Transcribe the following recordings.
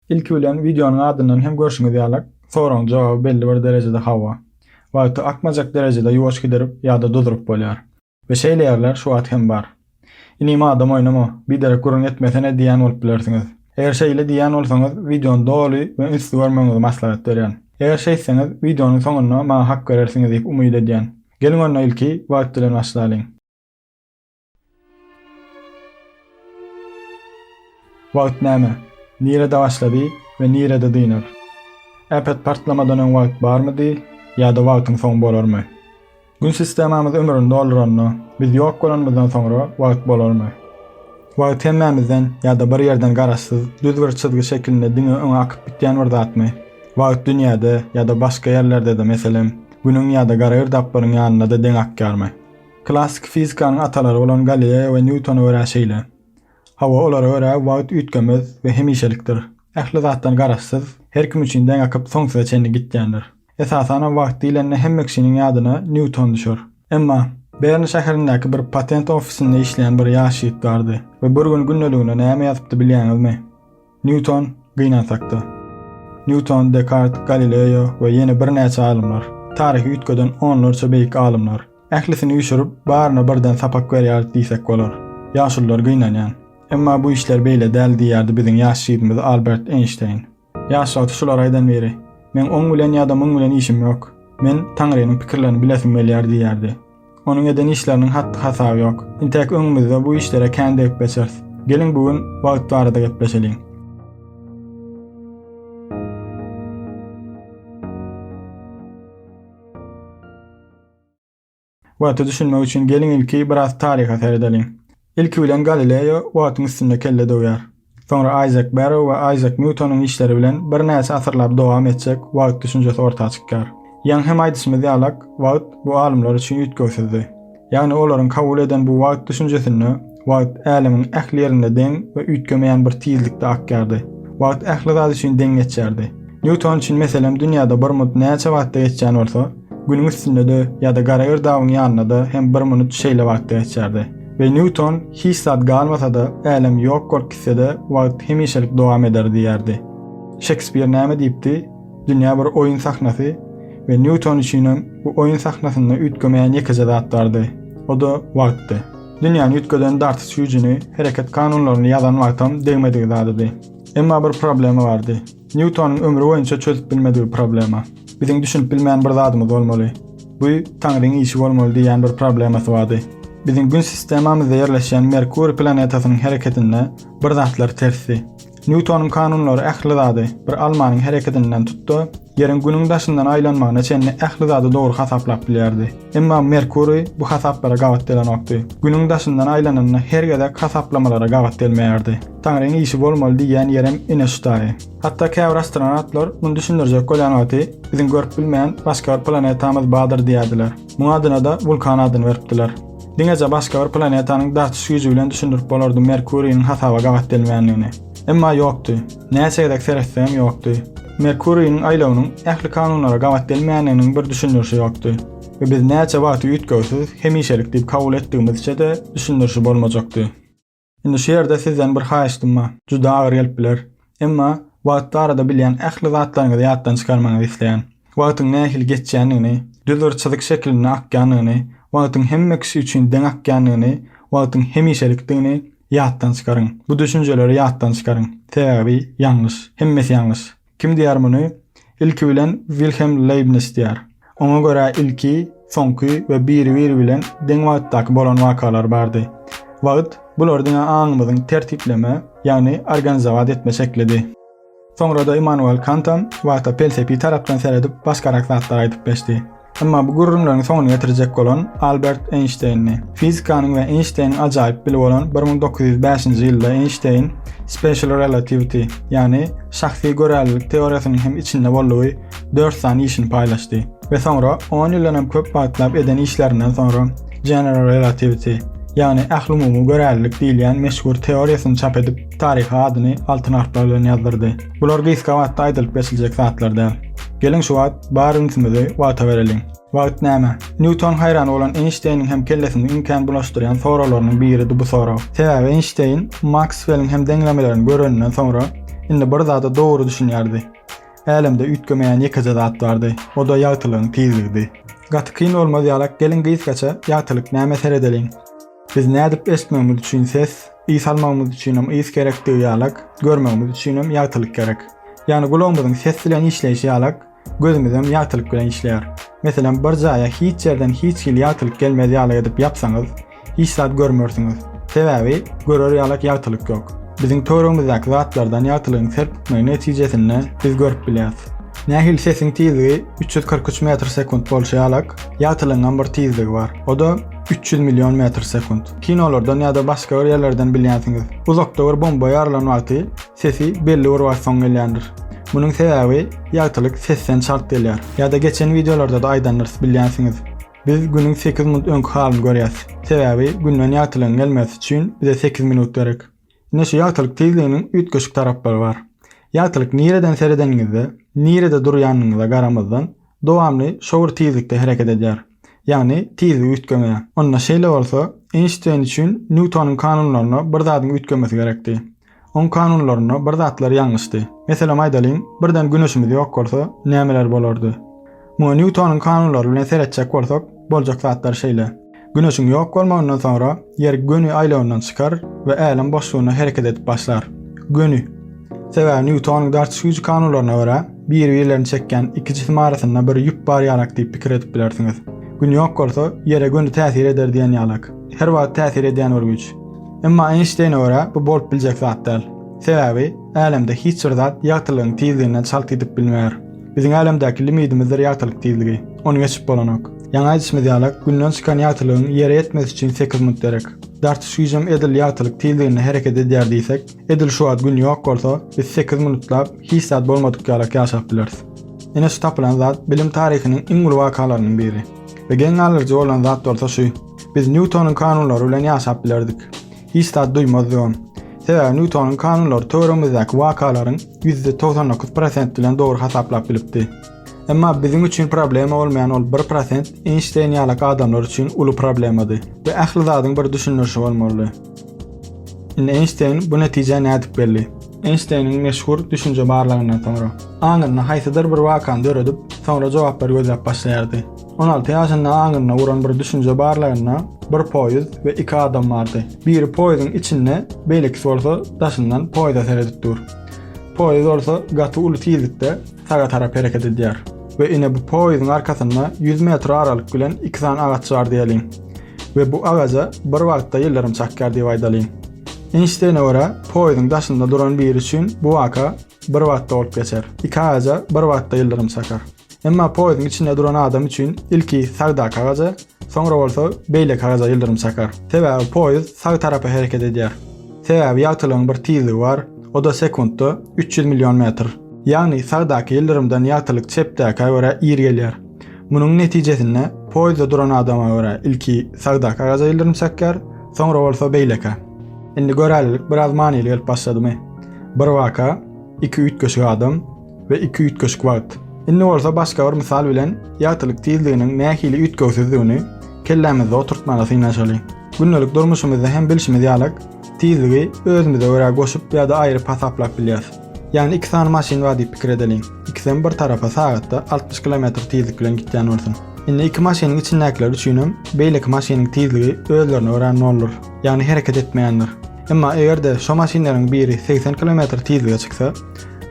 Ilki bilen wideonyň adyndan hem görşüňiz ýaly, soragyň jogaby belli bir derejede hawa. Wagty akmajak derejede ýuwaş gidirip ýa-da duzuryp bolýar. We şeýle ýerler şu wagt hem bar. Inim adam oýnama, biderek gürrüň etmesene diýýän bolup bilersiňiz. Eger şeýle diýýän bolsaňyz, wideony doly we ünsli görmegiňizi maslahat berýän. Eger şeýtseňiz, wideonyň soňunda maňa hak berersiňiz diýip umyt edýän. Geliň onda ilki wagt bilen başlalyň. Wagt näme? Nirede başlady we nirede dynar? Äpet partlamadan öň wagt barmydy ýa-da wagtyň soň bolarmy? Gün sistemamyz ömrüni dolduranda, biz ýok bolanymyzdan soňra wagt bolarmy? Wagt hemmämizden ýa-da bir ýerden garaşsyz, düz bir çyzgy şekilinde diňe öňe akyp gitýän bir zatmy? Wagt dünýäde ýa-da başga ýerlerde-de, meselem, Günüň ýa-da gara girdaplaryň ýanynda-da deň akýarmy? Klassyky fizikanyň atalary bolan Galileýa we Nýutona görä şeýle. Hawa, olara görä wagt üýtgemez we hemişelikdir. Ähli zatdan garaşsyz, her kim üçin deň akyp, soňsuza çenli gitýändir. Esasanam wagt diýlende hemme kişiniň ýadyna Nýuton düşer. Emma, Bern şäherindäki bir patent ofisinde işleýän bir ýaş ýigit bardy we bir gün gündeligine näme ýazypdy bilýäňizmi? Nýuton, gynansak-da. Nýuton, Dekart, Galileo we ýene birnäçe alymlar. Taryhy üýtgeden onlarça beýik alymlar. Ählisini üýşürip, baryna birden sapak berýäris diýsek bolar. Ýaşulular gynanýan. Emma bu işler beýle däl diýýärdi biziň ýaş židimiz Albert Eýnşteýn. Ýaş wagty şulary aýdan biri, Meň oň bilen ýa-da muň bilen işim ýok. Men Taňrynyň pikirlerini bilesim gelýär diýýärdi. Onuň eden işleriniň hatdy-hasaby ýok. Intäk öňümizde bu işlere kän degip geçeris. Geliň bu gün wagt barada gepleşeliň. Wagta düşünmek üçin geliň ilki biraz taryha seredeliň. Ilki bilen Galileo wagtyň üstünde kelle döwýär. Soňra Aýzek Berrow we Aýzek Nýutonyň işleri bilen birnäçe asyrlap dowam etjek wagt düşünjesi orta çykýar. Ýaňy hem aýdyşymyz ýalak, wagt bu alymlar üçin üýtgewsizdi. Ýagny olaryň kabul eden bu wagt düşünjesinde wagt älemiň ähli ýerinde deň we üýtgemeýän bir tizlikde akýardy. Wagt ähli zat üçin deň geçýärdi. Nýuton üçin meselem dünýäde bir minut näçe wagtda geçýän bolsa, Günüň üstünde-de ýa-da gara girdabyň ýanynda-da hem bir minut şeýle wagtda geçýärdi. We Nýuton hiç zat galmasa-da, älem ýok bolup gitse-de, wagt hemişelik dowam eder diýýärdi. Şekspir näme diýipdi? Dünýä bir oýun sahnasy we Nýuton üçinem bu oýun sahnasynda üýtgemeýän ýekeje zat bardy. O-da wagtdy. Dünýäni üýtgeden dartyş güýjüni, hereket kanunlaryny ýazan wagtam degmedik zadydy. Emma bir problema bardy. Nýutonyň ömri boýunça çözüp bilmedigi problema. Biziň düşünip bilmän bir zadymyz bolmaly. Bu Taňryň işi bolmaly diýýän bir problemasy bardy. Biziň Gün sistemamyzda ýerleşýän Merkuriý planetasynyň hereketinde bir zatlar tersdi. Nýutonyň kanunlary ähli zady, bir almanyň hereketinden tut-da, Ýeriň Günüň daşyndan aýlanmagyna çenli ähli zady dogry hasaplap bilýärdi. Emma Merkuriý bu hasaplara gabat gelenokdy. Günüň daşyndan aýlanynda her gezek hasaplamalara gabat gelmeýärdi. Taňryň işi bolmaly diýýän ýerem ine şu daýy. Hatda käbir astronawtlar muny düşündirjek bolýan wagty biziň görüp bilmeýän başga bir planetamyz bardyr diýýärdiler. Muň adyna-da wulkan adyny beripdiler. Diňeje başga bir planetanyň dartyş güýji bilen düşündirip bolardy Merkuriniň hasaba gabat gelmeýändigini. Emma ýokdy. Näçe gezek seretseňem ýokdy. Merkuriniň aýlawynyň ähli kanunlara gabat gelmeýändiginiň bir düşündirişi ýokdy. We biz näçe wagty üýtgewsiz, hemişelik diýip kabul etdigimizçe-de düşündirişi bolmajakdy. Indi şu ýerde sizden bir haýyştym bar. Juda agyr gelip biler. Emma wagt barada bilýän ähli zatlaryňyzy ýatdan çykarmagyňyzy isleýän. Wagtyň nähili geçýändigini, düz bir çyzyk şekilinde akýandygyny, wagtyň hemme kişi üçin deň akýandygyny, wagtyň hemişelikdigini ýatdan çykaryň. Bu düşünjeleri ýatdan çykaryň. Sebäbi ýalňyş. Hemmesi ýalňyş. Kim diýýär muny? Ilki bilen Wilhelm Leýbnis diýýär. Oňa görä ilki, soňky we biri-biri bilen deň wagtdaky bolan wakalar bardy. Wagt, bular diňe aňymyzyň tertipleme, ýagny organizowat etme şeklidi. Soňra-da Immanuel Kantam wagta pelsepi tarapdan seredip başgarak zatlar aýdyp geçdi. Emma bu gürrüňleriň soňuny getirjek bolan Albert Eýnşteýndi. Fizikanyň we Eýnşteýniň ajaýyp bili bolan 1905-nji ýylda Eýnşteýn Special Relativity, ýagny şahsy görälilik teoriýasynyň hem içinde boldugy dört sany işini paýlaşdy we soňra on ýyldan hem köp wagtlap eden işlerinden soňra General Relativity, ýagny ählumumy görälilik diýilýän meşhur teoriýasyny çap edip, taryha adyny altyn harplar bilen ýazdyrdy. Bular gysga wagtda aýdylyp geçiljek zatlar däl. Geliň şu wagt bar ünsümizi wagta bereliň. Wagt näme? Nýuton haýran bolan Eýnşteýniň hem kellesini iň kän bulaşdyrýan soraglarynyň biridi bu sorag. Sebäbi Eýnşteýn Maksweliň hem deňlemelerini göreninden soňra indi bir zada dogry düşünýärdi. Älemde üýtgemeýän ýekeje zat bardy, o-da ýagtylygyň tizligidi. Gaty kyn bolmaz ýalak geliň gysgaça ýagtylyk näme seredeliň. Biz nädip ösmegimiz üçin ses, ys almagymyz üçinem ys gerekdigi ýalak, görmegimiz üçinem ýagtylyk gerek. Ýagny gulagymyzyň ses bilen işleýşi ýalak, gözümizem ýagtylyk bilen işleýär. Meselem, bir jaýa hiç ýerden hiç hili ýagtylyk gelmez ýaly edip ýapsaňyz, hiç zat görmersiňiz. Sebäbi görer ýalak ýagtylyk ýok. Biziň töweregimizdäki zatlardan ýagtylygyň serpikmegi netijesinde biz görüp bilýäs. Nähili sesiň tizligi üç ýüz kyrk üç metr sekunt bolşy ýalak, ýagtylygyňam bir tizligi bar. O-da. Üç ýüz million metr sekunt. Kinolardan ýa-da başga bir ýerlerden bilýänsiňiz. Uzakda bir bomba ýarylan wagty sesi belli bir wagt soň gelýändir. Munuň sebäbi ýagtylyk sesden çalt gelýär. Ýa-da geçen wideolarda-da aýdandyrys bilýänsiňiz. Biz günüň sekiz minut öňki halyny görýäs. Sebäbi günden ýagtylygyň gelmesi üçin bize sekiz minut gerek. Ine şu ýagtylyk tizliginiň üýtgeşik taraplary bar. Ýagtylyk nireden seredeniňizde, nirede durýanyňyza garamazdan, dowamly şo bir tizlikde hereket edýär. Ýagny tizligi üýtgemeýär. Onda şeýle bolsa, Eýnşteýn üçin Nýutonyň kanunlaryna bir zadyň üýtgemesi gerekdi. Oň kanunlarynda bir zatlar ýalňyşdy. Meselem aýdalyň, birden Güneşimiz ýok bolsa, nämeler bolardy? Muňa Nýutonyň kanunlary bilen seretjek bolsak, boljak zatlar şeýle. Güneşiň ýok bolmagyndan soňra Ýer göni aýlawyndan çykar we älem boşlugynda hereket edip başlar. Göni. Sebäbi Nýutonyň dartyş güýji kanunlaryna görä, bir-birlerini çekýän iki jisim arasynda bir ýüp bar ýalak diýip pikir edip bilersiňiz. Gün ýok bolsa, Ýere göni täsir eder diýen ýalak. Her wagt täsir edýän bir güýç. Emma Eýnşteýne görä bu bolup biljek zat däl. Sebäbi, älemde hiç bir zat ýagtylygyň tizliginden çalt gidip bilmeýär. Biziň älemdäki limidimizdir ýagtylyk tizligi. Ony geçip bolanok. Ýaňy aýdyşymyz ýalak, Günden çykan ýagtylygyň Ýere ýetmesi üçin sekiz minut gerek. Dartyş güýjem edil ýagtylyk tizliginde hereket edýär diýsek, edil şu wagt Gün ýok bolsa, biz sekiz minutlap hiç zat bolmadyk ýalak ýaşap bileris. Ine şu tapylan zat bilim taryhynyň iň uly wakalarynyň biri. We geň galdyryjy bolan zat bolsa şu. Biz Nýutonyň kanunlary bilen ýaşap bilerdik. Hiç zat duýmazdygym. Sebäbi Nýutonyň kanunlary töweregimizdäki wakalaryň ýüzde togsan dokuz prosent bilen dogry hasaplap bilipdi. Emma biziň üçin problema bolmaýan ol bir prosent Eýnşteýn ýalak adamlar üçin uly problemady we ähli zadyň bir düşündirişi bolmalydy. Indi Eýnşteýn bu netijä nädip geldi? Eýnşteýniň meşhur düşünje barlagyndan soňra, aňynda haýsydyr bir wakany döredip, soňra jogaplary gözläp başlaýardy. On alty ýaşynda aňyna uran bir düşünje barlygynda bir poýuz we iki adam bardy. Biri poýuzyň içinde, beýlekisi bolsa daşyndan poýuza seredip dur. Poýuz bolsa gaty uly tizlikde saga tarap hereket edýär. We ine bu poýuzyň arkasynda ýüz metr aralyk bilen iki sany agaç bar diýeliň. We bu agaja bir wagtda ýyldyrym çakýar diýip aýdalyň. Eýnşteýne görä, poýuzyň daşynda duran biri üçin bu waka bir wagtda bolup geçer. Iki agaja bir wagtda ýyldyrym çakar. Emma poýuzyň içinde duran adam üçin ilki sagda kagaja, soňra bolsa beýle kagaja ýyldyrym çakar. Sebäbi poýuz sag tarapa hereket edýär. Sebäbi ýagtylygyň bir tizligi bar, o-da sekuntda üç ýüz million metr. Ýagny sagdaky ýyldyrymdan ýagtylyk çepdäkä görä ir gelýär. Munuň netijesinde poýuzda duran adama görä ilki sagda kagaja ýyldyrym çakýar, soňra bolsa beýlekä. Indi görälilik biraz manyly gelip başladymy? Bir waka, iki üýtgeşik adam, we iki üýtgeşik wagt. Indi bolsa başga bir mysal bilen ýagtylyk tizliginiň nähili üýtgewsizdigini kellämizde oturtmaga synanyşaly. Gündelik durmuşymyzda hem bilşimiz ýaly, tizligi özümize görä goşup ýa-da aýryp hasaplap bilýäris. Ýagny iki sany maşyn bar diýip pikir edeliň. Ikisem bir tarapa sagatda altmyş kilometr tizlik bilen gitýän bolsun. Indi iki maşynyň içindäkiler üçinem beýleki maşynyň tizligi özlerine görä noldur, ýagny hereket etmeýändir. Emma eger-de şo maşynlaryň biri segsen kilometr tizlige çyksa,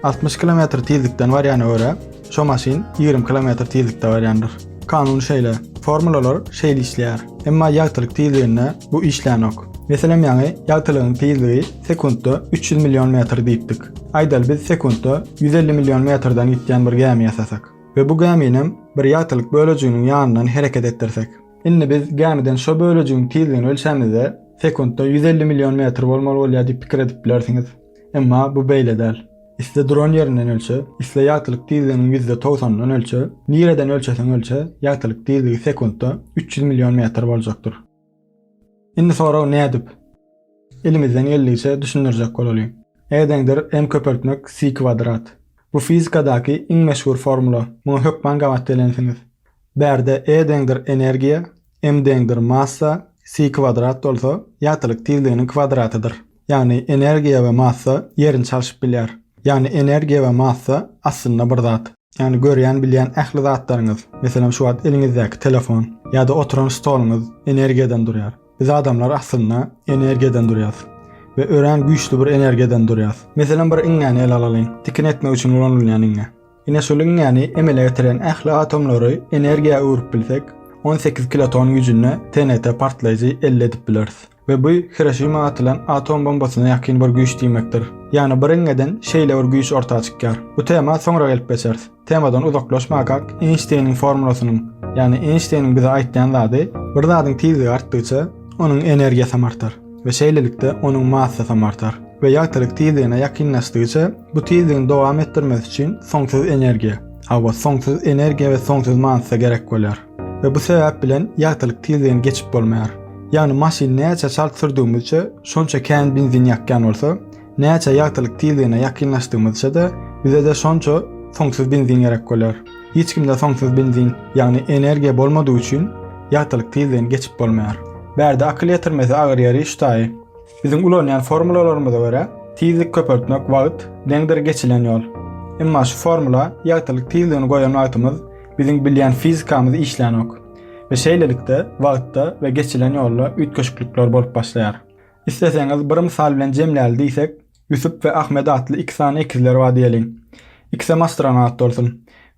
60 kilometr tizlikden barýana görä, şo maşyn 20 kilometr tizlikde barýandyr. Kanun şeýle, formulalar şeýle işleýär. Emma ýagtylyk tizliginde bu işlänok. Meselem ýaňy ýagtylygyň tizligi sekuntda 300 million metr diýipdik. Aýdaly biz sekuntda 150 million metrden gitýän bir gämi ýasasak we bu gäminem bir ýagtylyk bölejiginiň ýanyndan hereket etdirsek. Indi biz gämiden şo bölejigiň tizligini ölçämizde sekuntda 150 million metr bolmaly bolýar diýip pikir edip bilersiňiz. Emma bu beýle däl. Isle duran ýerinden ölçe, isle ýagtylyk tizliginiň ýüzde togsanyndan ölçe, nireden ölçeseň ölçe, ýagtylyk tizligi sekuntda üç ýüz million metr boljakdyr. Indi sorag nädip? Elimizden geldigiçe düşündirjek bolalyň. Edeňdir m köpeltmek si kwadrat. Bu fizikadaky iň meşhur formula. Muňa hökman gabat gelensiňiz. Bärde E deňdir energiýa, M deňdir massa, Si kwadrat bolsa, ýagtylyk tizliginiň kwadratydyr. Ýagny energiýa we massa ýerini çalşyp bilýär. Ýagny energiýa we massa aslynda bir zat. Ýagny görýän bilýän ähli zatlaryňyz, meselem şu wagt eliňizdäki telefon, ýa-da oturan stoluňyz energiýadan durýar. Biz adamlar aslynda energiýadan durýas we örän güýçli bir energiýadan durýas. Meselem bir iňňäni ele alalyň, tikin etmek üçin ulanylýan iňňe. Ine şu liniýany emele getiren ähli atomlary energiýa öwrüp bilsek, on sekiz kiloton güýjünde TNT partlaýjy elde edip bileris. We bu Hiroşima atylan atom bombasyna ýakyn bir güýç diýmekdir. Ýagny biriňňeden şeýle bir güýç orta çykýar. Bu tema soňra gelip geçeris. Temadan uzaklaşmakak Eýnşteýniň formulasynyň, ýagny Eýnşteýniň bize aýtýan zady, bir zadyň tizligi artdygyça, onuň energiýasam artar. we şeýlelikde onuň massasam artar we ýagtylyk tizligine ýakynlaşdygyça bu tizligini dowam etdirmesi üçin soňsuz energiýa, hawa, soňsuz energiýa we soňsuz massa gerek bolýar we bu sebäp bilen ýagtylyk tizligini geçip bolmaýar. Ýagny maşyn näçe çalt sürdügimizçe şonça kän benzin ýakýan bolsa, Näçe ýagtylyk tizligine ýakynlaşdygymyzça-da, bize-de şonça soňsuz benzin gerek bolar. Hiç kimde soňsuz benzin, ýagny energiýa bolmadygy üçin ýagtylyk tizligini geçip bolmaýar. Bärde akyl ýetirmesi agyr ýeri şu taýy. Biziň ulanýan formulalarymyza görä, tizlik köpeltmek wagt deňdir geçilen ýol. Emma şu formula ýagtylyk tizligini goýan wagtymyz biziň bilýän fizikamyz işlänok we şeýlelikde wagtda we geçilen ýolda üýtgeşiklikler bolup başlaýar. Isleseňiz bir mysal bilen jemläli diýsek, Ýusup we Ahmet atly iki sany ekizler bar diýeliň. Ikisem astronawt bolsun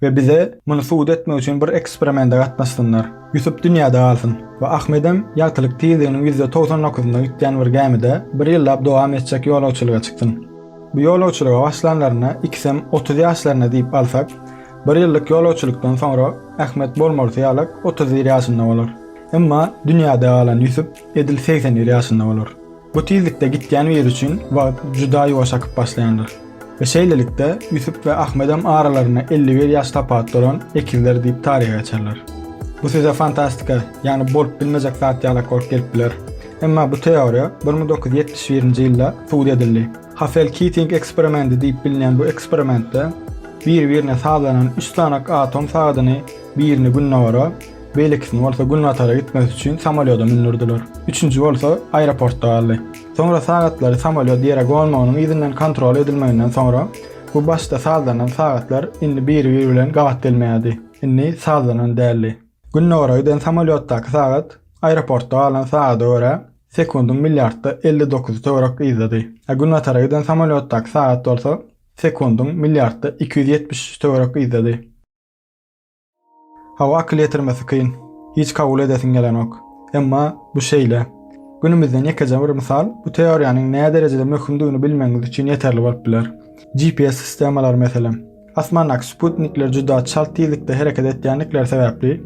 we bize muny subut etmek üçin bir eksperimende gatnaşsynlar. Ýusup dünýäde galsyn we Ahmedem ýagtylyk tizliginiň ýüzde togsan dokuzynda gitýän bir gämide bir ýyllap dowam etjek ýolagçylyga çyksyn. Bu ýolagçylyga başlanlarynda ikisem otuz ýaşlarynda diýip alsak, bir ýyllyk ýolagçylykdan soňra Ahmet bolmalysy ýalak otuz bir ýaşynda bolar. Emma dünýäde galan Ýusup Edil segsen bir ýaşynda bolar. Bu tizlikde gitýän biri üçin wagt juda ýuwaş akyp başlaýandyr. We şeýlelikde, Ýusup we Ahmedem aralarynda elli bir ýaş tapawut bolan ekizler diýip taryha geçerler. Bu size fantastika, ýagny bolup bilmejek zat ýalak bolup gelip biler. Emma bu teoriýa bir müň dokuz ýüz ýetmiş birinji ýylda subut edildi. Hassel-Kiting eksperimendi diýip bilinýän bu eksperimentde bir-birine sazlanan üç sanak atom sagadyny birini gündogara, Beýlekisini bolsa günbatara gitmesi üçin samolýoda mündürdiler. Üçünji bolsa aeroportda galdy. Soňra sagatlary samolýot ýere gonmagynyň yzyndan kontrol edilmeginden soňra, bu başda sazlanan sagatlar indi biri-biri bilen gabat gelmeýärdi. Indi sazlanan däldi. Gündogara giden samolýotdaky sagat aeroportda galan sagada görä, sekundyň milliardda elli dokuzy töwerek yzdady. A günbatara giden samolýotdaky sagat bolsa sekundyň milliardda iki ýüz ýetmiş üç töwerek yzdady. Hawa akyl ýetirmesi kyn. Hiç kabul edesiň gelenok. Emma bu şeýle. Günümizden ýekeje bir mysal bu teoriýanyň näderejede möhümdigini bilmegiňiz üçin ýeterli bolup biler. GPS sistemalary meselem. Asmandaky sputnikler juda çalt tizlikde hereket etýändikleri sebäpli,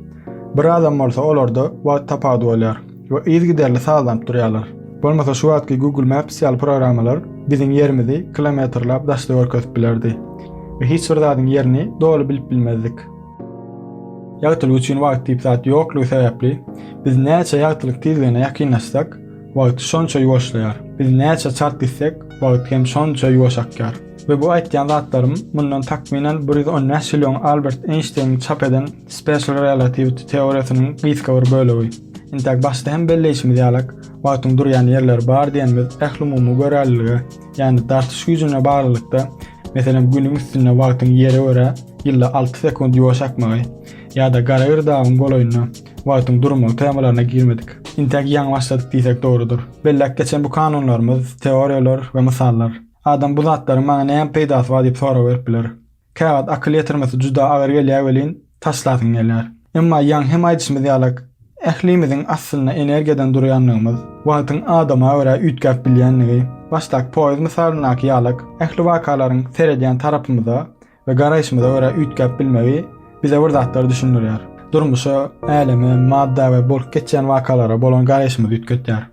bir adam bolsa olarda wagt tapawudy bolýar. we yzygiderli sazlanyp durýarlar. Bolmasa şu wagtky Google Maps ýaly programmalar biziň ýerimizi kilometrläp daşda görkezip bilerdi we hiç bir zadyň ýerini doly bilip bilmezdik. Ýagtylyk üçin wagt diýip zat ýoklugy sebäpli, biz näçe ýagtylyk tizligine ýakynlaşsak, wagt şonça ýuwaşlaýar. Biz näçe çalt gitsek, wagt hem şonça ýuwaş akýar. We bu aýtýan zatlarym mundan takmynan bir ýüz on bäş ýyl öň Albert Eýnşteýniň çap eden Special Relativity teoriýasynyň gysga bir bölegi. Intäk başda hem belleýşimiz ýalak, wagtyň durýan ýerleri bar diýenimiz ählumumy görelilige, ýagny dartyş güýjüne baglylykda, meselem, Günüň üstünde wagtyň Ýere görä ýylda alty sekunt ýuwaş akmagy ýa-da Garagir dagyň golaýynda wagtyň durmagy temalaryna girmedik. Intäk ýaňy başladyk diýsek dogrudyr. Belläp geçen bu kanunlarymyz, teoriýalar we mysallar. Adam bu zatlaryň maňa näme peýdasy bar diýip sorag berip biler. Käwagt akyl ýetirmesi juda agyr gelýär welin, taşlasyň gelýär. Emma ýaňy hem aýdyşymyz ýalak, ählimiziň aslynda energiýadan durýandygymyz, wagtyň adama görä üýtgäp bilýändigi, başdaky poýuz mysalyndaky ýalak, ähli wakalaryň seredýän tarapymyza we garaýşymyza görä üýtgäp bilmegi bize bir zatlary düşündirýär. Durmuşa, äleme, madda we bolup geçýän wakalara bolan garaýşymyzy üýtgetýär.